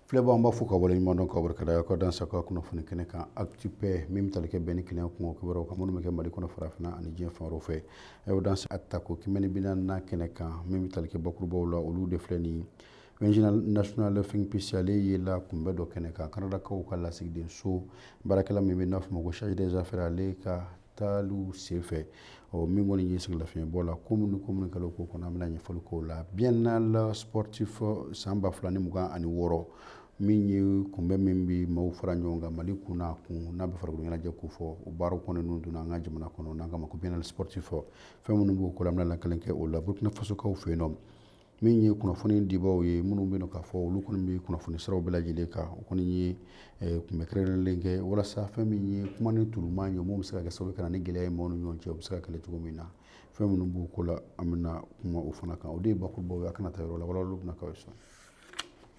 filɛbaaw an b'aw fo k'aw waleɲumandɔn k'aw barikada aw dansɛ an ka kunnafoni kɛnɛ kan Actu Paix min bɛ tali kɛ bɛn ni kelenya kunko kibaruyaw kan minnu bɛ kɛ mali kɔnɔ farafinna ani diɲɛ fan wɛrɛw fɛ aw dansɛ a tako kɛmɛ ni bi naaninan kɛnɛ kan min bɛ tali kɛ bakurubaw la olu de filɛ nin Regional National Think Peace ale yela kunbɛn dɔ kɛnɛ kan Kanadakaw ka lasigidenso baarakɛla min bɛ n'a fɔ ma ko chargé des affaires ale ka taaliw senfɛ ɔ min kɔni ye sɛgɛnlafiɲɛbɔ la ko minnu ko minnu kɛlen ko kɔnɔ an bɛna ɲɛfɔli k'o la biennale sportif san ba fila ni mugan ani wɔɔrɔ min ye kunbɛn min bɛ maaw fara ɲɔgɔn kan mali kun n'a kun n'a bɛ farikolo ɲɛnajɛ kofɔ o baaraw kɔni ninnu donna an ka jamana kɔnɔ n'an k'a ma ko biennale sportif fɛn minnu b'o ko la an bɛna lakali kɛ o la burkina fasokaw fɛ yen nɔ min ye kunnafoni dibaaw ye minnu bɛ yen nɔ k'a fɔ olu kɔni bɛ kunnafoni siraw bɛɛ lajɛlen kan o kɔni ye eh, kunbɛn kɛrɛnkɛrɛnlen kɛ walasa fɛn min ye kuma ni tuluman ye mun bɛ se ka kɛ sababu ka na ni gɛlɛya ye maaw ni ɲɔgɔn cɛ o bɛ se ka kɛlɛ cogo min na fɛn minnu b'o ko la an bɛna kuma o fana kan o de ye bakurubaw ye aw kana taa yɔrɔ la walawalaw bɛna k'aw ye sɔɔni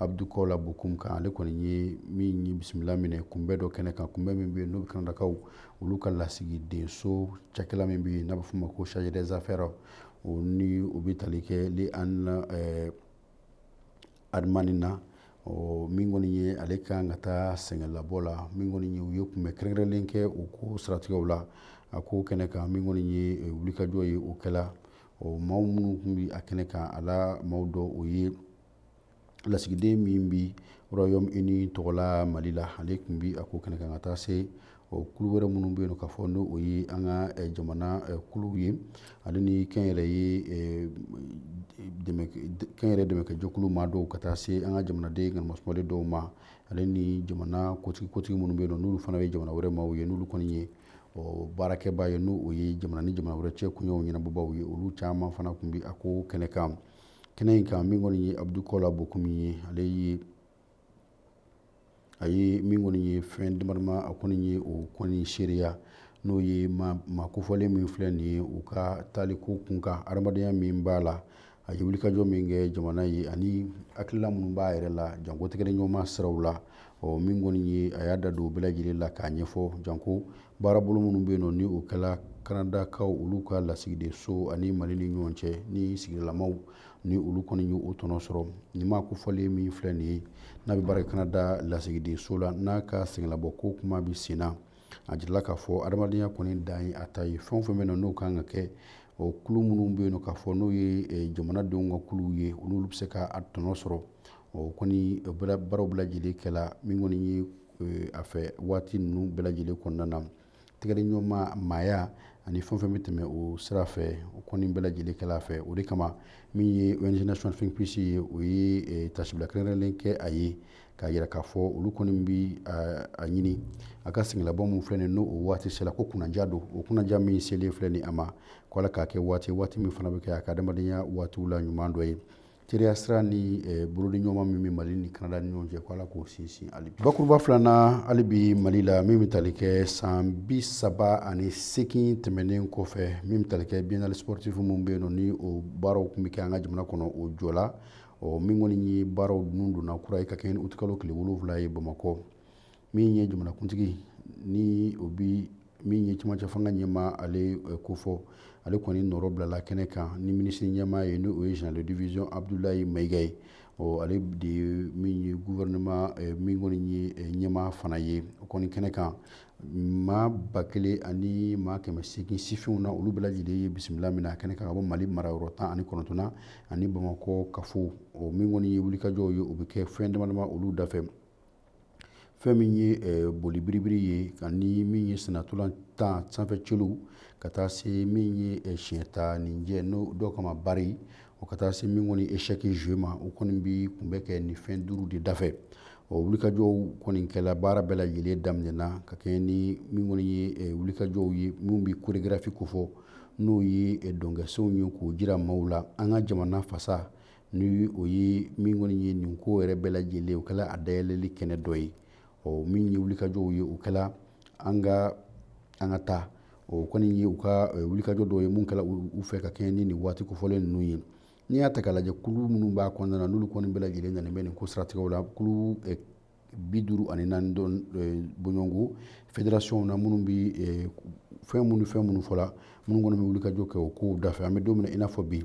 Abdu Kɔla Bokum kan ale kɔni ye min ye bisimila minɛ kunbɛn dɔ kɛnɛ kan kunbɛn min bɛ yen n'o bɛ Kanadakaw olu ka lasigidenso cakɛla min bɛ yen n'a bɛ f'o ma ko chargé des affaires o n'o bɛ tali kɛ Lee-Anne eh, Hermann na ɔ min kɔni ye ale kan ka taa sɛgɛnlabɔ la min kɔni ye u ye kunbɛn kɛrɛnkɛrɛnlen kɛ o ko siratigɛw la a ko kɛnɛ kan min kɔni ye eh, wulikajɔ ye o kɛla ɔ maaw minnu tun bɛ a kɛnɛ kan a la maaw dɔ o ye lasigiden min bɛ Royaume-Uni tɔgɔla mali la ale tun bɛ a ko kɛnɛ kan ka taa se o kulu wɛrɛ minnu bɛ yen k'a fɔ n'o ye an ka eh, jamana eh, kulu ye ale ni kɛnyɛrɛye eh, kɛnyɛrɛye dɛmɛkɛjɛkulu maa dɔw ka taa se an ka jamanaden ŋanimasumalen dɔw ma ale ni jamana kotigi kotigi minnu bɛ yen n'olu fana ye jamana wɛrɛ maaw ye n'olu kɔni ye ɔ baarakɛbaa ye n'o o ye jamana ni jamana wɛrɛ cɛ koɲɛw ɲɛnabɔbaaw ye olu caman fana tun bɛ a ko kɛnɛ kan kɛnɛ in kan min kɔni ye Abdu Kɔla Bokum ye ale ye a ye min kɔni ye fɛn damadama a kɔni ye o kɔni seereya n'o ye maa kofɔlen min filɛ nin ye u ka taaliko kun kan adamadenya min b'a la a ye wulikajɔ min kɛ jamana ye ani hakilila minnu b'a yɛrɛ la janko tɛgɛdiɲɔgɔnma siraw la ɔ min kɔni ye a y'a da don bɛɛ lajɛlen la k'a ɲɛfɔ janko baarabolo minnu bɛ yen nɔ ni o kɛla kanadakaw olu ka lasigiden so ani mali ni ɲɔgɔn cɛ ni sigidalamaw ni olu kɔni ye o tɔnɔ sɔrɔ nin maa kofɔlen min filɛ nin ye n'a bɛ baara kɛ kanada lasigiden so la n'a ka sɛgɛnlabɔ ko kuma bɛ sen na a jirala k'a fɔ adamadenya kɔni dan ye a ta ye fɛn o fɛn bɛ na n'o kan ka kɛ o kulu minnu bɛ yen nɔ k'a fɔ n'o ye eh, jamanadenw ka kuluw ye olu bɛ se ka a tɔnɔ sɔrɔ o kɔni baaraw bɛɛ lajɛlen kɛla min kɔni ye eh, a fɛ waati ninnu bɛɛ lajɛlen kɔnɔna na tɛgɛdiɲɔgɔnma maaya ani fɛn fɛn bɛ tɛmɛ o sira fɛ o kɔni bɛɛ lajɛlen kɛla a fɛ o de kama min ye ong national think peace ye o ye eh, taasibila kɛrɛnkɛrɛnlen kɛ a ye k'a yira k'a fɔ olu kɔni bɛ a ɲini a ka sɛgɛnlabɔ min filɛ nin n'o o waati sera ko kunnaja don o kunnaja min selen filɛ nin a ma ko ala k'a kɛ waati waati min fana bɛ kɛ a ka adamadenya waatiw la ɲuman dɔ ye teriya sira ni bolodiɲɔgɔnma min bɛ mali ni kanada ni ɲɔgɔn cɛ ko ala k'o sinsin ali bakuruba filanan hali bi mali la min bɛ tali kɛ san bi saba ani seegin tɛmɛnen kɔfɛ min bɛ tali kɛ biennale sportif minnu bɛ yen nɔ ni o baaraw tun bɛ kɛ an ka jamana kɔnɔ o jɔla ɔ min kɔni ye baaraw ninnu donna kura ye ka kɛɲɛ ni utikalo tile wolonwula ye bamakɔ min ye jamanakuntigi ni o bi min ye cɛmancɛ fanga ɲɛmaa ale kofɔ ale kɔni nɔrɔ bilala kɛnɛ kan ni minisiri ɲɛmaa ye ni o ye general de division abdulayi mayiga ye ɔ ale de ye min ye gouvernement min kɔni ye ɲɛmaa fana ye o kɔni kɛnɛ kan maa ba kelen ani maa kɛmɛ seegin sifinw na olu bɛɛ lajɛlen ye bisimila minɛ a kɛnɛ kan ka bɔ mali marayɔrɔ tan ani kɔnɔntɔn na ani bamakɔ kafo o min kɔni ye wulikajɔw ye o bɛ kɛ fɛn damadama olu dafɛ fɛn min ye eh, boli biribiri ye ani min ye sennantolatan sanfɛ celu ka taa se min ye eh, siɲɛta nin jɛ n'o dɔw k'a ma bari o ka taa se min kɔni echec jeu ma o kɔni bɛɛ kun bɛ kɛ nin fɛn duuru de dafɛ ɔ wulikajɔw kɔni kɛla baara bɛɛ lajɛlen daminɛna ka kɛɲɛ ni min kɔni ye eh, wulikajɔw ye min bɛ choregrafi kofɔ n'o ye eh, dɔnkɛsenw ye k'o jira maaw la an ka jamana fasa ni o ye min kɔni ye nin ko yɛrɛ bɛɛ lajɛlen o kɛla a dayɛlɛli kɛnɛ dɔ ye ɔ min ye wulikajɔw ye o kɛla an ka an ka taa o kɔni ye u ka eh, wulikajɔ dɔw ye min kɛla u fɛ ka kɛɲɛ ni nin waati kofɔlen ninnu ye n'i y'a ta k'a lajɛ kulu minnu b'a kɔnɔna na n'olu kɔni bɛɛ lajɛlen nalen bɛ nin ko siratigɛw la kulu eh, bi duuru ani naani don eh, bɔɲɔgɔnko federasiyɔnw na minnu bɛ fɛn minnu fɛn minnu fɔla minnu kɔni bɛ wulikajɔ kɛ o kow dafɛ an bɛ don min na i n'a fɔ bi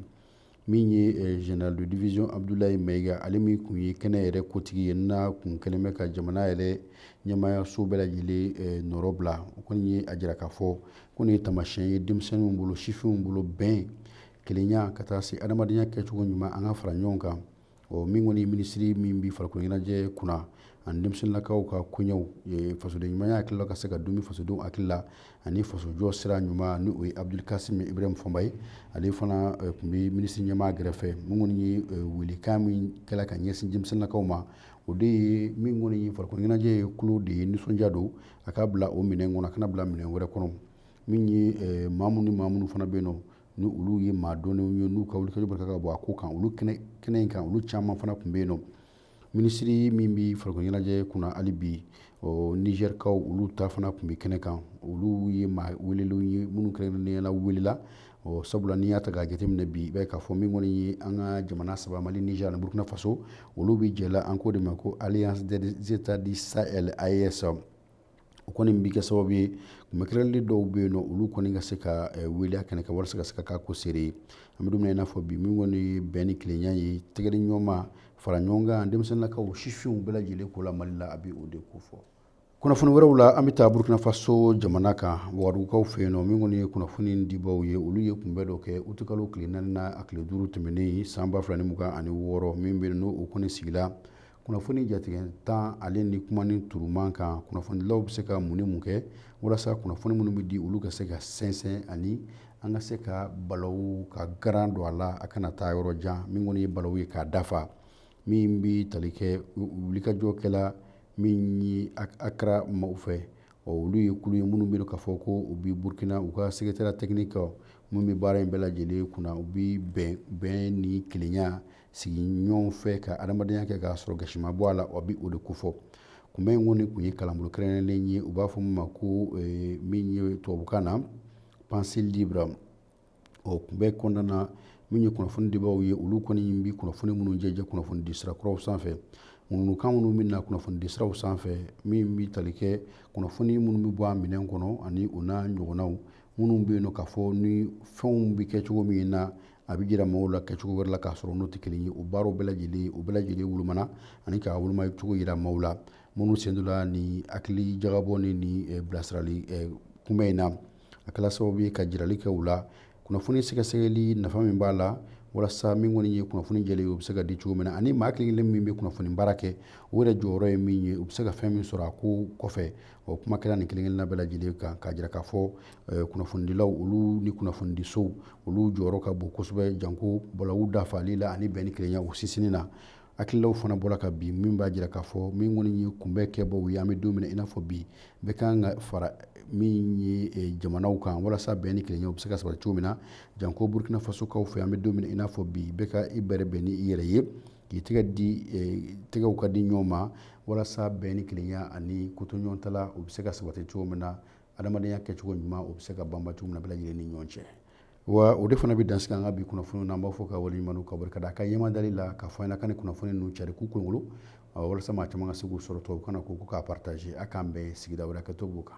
min ye eh, general de division abdulayi mayiga ale min kun ye kɛnɛ yɛrɛ kotigi ye n'a kun kɛlen bɛ ka jamana yɛrɛ ɲɛmaayaso bɛɛ lajɛlen eh, nɔrɔ bila o kɔni ye a jira k'a fɔ ko nin ye taamasiyɛn ye denmisɛnninw bolo sifinw bolo bɛn kelenya ka taa se adamadenya kɛcogo ɲuman an ka fara ɲɔgɔn kan ɔ min kɔni minisiri min bɛ farikolo ɲɛnajɛ kunna ani denmisɛnninlakaw ka koɲɛw fasoden ɲumanya hakilila ka se ka don fasodenw hakili la ani fasojɔ sira ɲuman ni o ye abudulkasimi ibrahim fɔnba ye ale fana tun bɛ minisiri ɲɛmaa gɛrɛfɛ min kɔni ye welekan min kɛla ka ɲɛsin denmisɛnninlakaw ma o de ye min kɔni ye farikolo ɲɛnajɛ ye tulon de ye nisɔndiya don a k'a bila o minɛn kɔnɔ a kana bila minɛn wɛrɛ kɔnɔ min ye maa minnu ni maa minnu fana bɛ yen nɔ ni olu ye maa dɔnnenw ye n'u ka wulikajɔ barika ka bon a ko kan olu kɛnɛ in kan olu caman fana tun bɛ yen nɔ minisiri min bɛ farikolo ɲɛnajɛ kunna hali bi nizɛrikaw olu ta fana tun bɛ kɛnɛ kan olu ye maa welelenw ye minnu kɛrɛnkɛrɛnnenya la welela ɔ sabula n'i y'a ta k'a jateminɛ bi i b'a ye k'a fɔ min kɔni ye an ka jamana saba mali nizɛr ani burukina faso olu bɛ jɛ la an k'o de ma ko alliance des états du sahel AES o kɔni bɛ kɛ sababu ye mɛkli dɔw bɛ yen olu kɔni ka se ka eh, wele kɛnɛ kan walasa ka se ka k'a ko seere ye an bɛ don min na i n'a fɔ bi min kɔni ye bɛn ni kelenya ye tɛgɛdi ɲɔgɔnma fara ɲɔgɔn kan denmisɛnninlakaw sifinw bɛɛ lajɛlen ko la mali la a bɛ o de kofɔ kunnafoni wɛrɛw la an bɛ taa burukina faso jamana kan wagadugukaw fɛ yen nɔ min kɔni ye kunnafoni dibaw ye olu ye kunbɛn dɔ kɛ utikalo tile naani n'a tile duuru tɛmɛnen san ba fila ni mugan ani wɔɔrɔ min bɛ yen nɔ o kɔni sigila kunnafoni jatigɛ tan ale ni kuma ni turuman kan kunnafonidilaw bɛ se ka mun ni mun kɛ walasa kunnafoni minnu bɛ di olu ka se ka sɛnsɛn ani an ka se ka balawu ka garan don a la a kana taa yɔrɔ jan min kɔni ye balawu ye k'a dafa min bɛ tali kɛ wulikajɔkɛla min ye a kɛra maaw fɛ ɔ olu ye kulu ye minnu bɛ k'a fɔ ko u bɛ burukina u ka secrétariat technique minnu bɛ baara in bɛɛ lajɛlen kunna u bɛ bɛn ni kelenya sigi ɲɔgɔn fɛ ka adamadenya kɛ k'a sɔrɔ gasi ma bɔ a la o bɛ o de kofɔ kunbɛn in kɔni tun ye kalanbolo kɛrɛnkɛrɛnnen ye u b'a fɔ min ma ko eh, min ye tubabukan na pensée libre ɔ kunbɛn kɔnɔna na min ye kunnafoni dibaaw ye olu kɔni bɛ kunnafoni minnu jɛnjɛn kunnafoni di sira kuraw sanfɛ ŋunuŋunukan minnu bɛ na kunnafoni di siraw sanfɛ min bɛ tali kɛ kunnafoni minnu bɛ bɔ a minɛn kɔnɔ ani o n'a ɲɔgɔnnaw minnu bɛ yen nɔ k'a fɔ ni fɛnw bɛ kɛ cogo min na a bɛ jira maaw la kɛcogo wɛrɛ la k'a sɔrɔ n'o tɛ kelen ye o baaraw bɛɛ lajɛlen o bɛɛ lajɛlen wolomana ani k'a woloma cogo jira maaw la minnu sen donna ni hakili jagabɔ ni ni eh, bilasirali eh, kunbɛn in na a kɛla sababu ye ka jirali kɛ u la kunnafoni sɛgɛsɛgɛli nafa min b'a la walasa min kɔni ye kunnafoni jɛlen ye o bɛ se ka di cogo min na ani maa kelen kelen min bɛ kunnafoni baara kɛ o yɛrɛ jɔyɔrɔ ye min ye u bɛ se ka fɛn min sɔrɔ a ko kɔfɛ o kuma kɛra nin kelenkelenna bɛɛ lajɛlen kan k'a jira k'a fɔ eh, kunnafonidilaw olu ni kunnafonidisow olu jɔyɔrɔ ka bon kosɛbɛ janko balawu dafali la ani bɛn ni kelenya u sinsinni na hakililaw fana bɔra ka bin min b'a jira k'a fɔ min kɔni ye kunbɛn kɛbaaw ye an bɛ don min na i n'a fɔ bi bɛɛ kan ka fara min ye eh, jamanaw kan walasa bɛn ni kelenya u bɛ se ka sabati cogo min na janko burkina faso kaw fɛ an bɛ don min na i n'a fɔ bi bɛɛ ka i bɛrɛ bɛn ni i yɛrɛ ye k'i tɛgɛ di eh, tɛgɛw ka di ɲɔgɔn ma walasa bɛn ni kelenya ani kotoɲɔgɔntala u bɛ se ka sabati cogo min na adamadenya kɛcogo ɲuman o bɛ se ka banba cogo min na bɛɛ lajɛlen ni ɲɔgɔn cɛ wa o de fana bɛ dansigi an ka bi kunnafoniw na an b'a fo k'a waleɲumandɔn k'a barika da a ka ɲɛmadali la k'a fɔ an ɲɛna ka nin kunnafoni ninnu cari k'u kolokolo walasa maa caman ka se k'u sɔrɔ tubabukan na ko k'a partager a k'an bɛn sigida wɛrɛ kɛtɔ b'o kan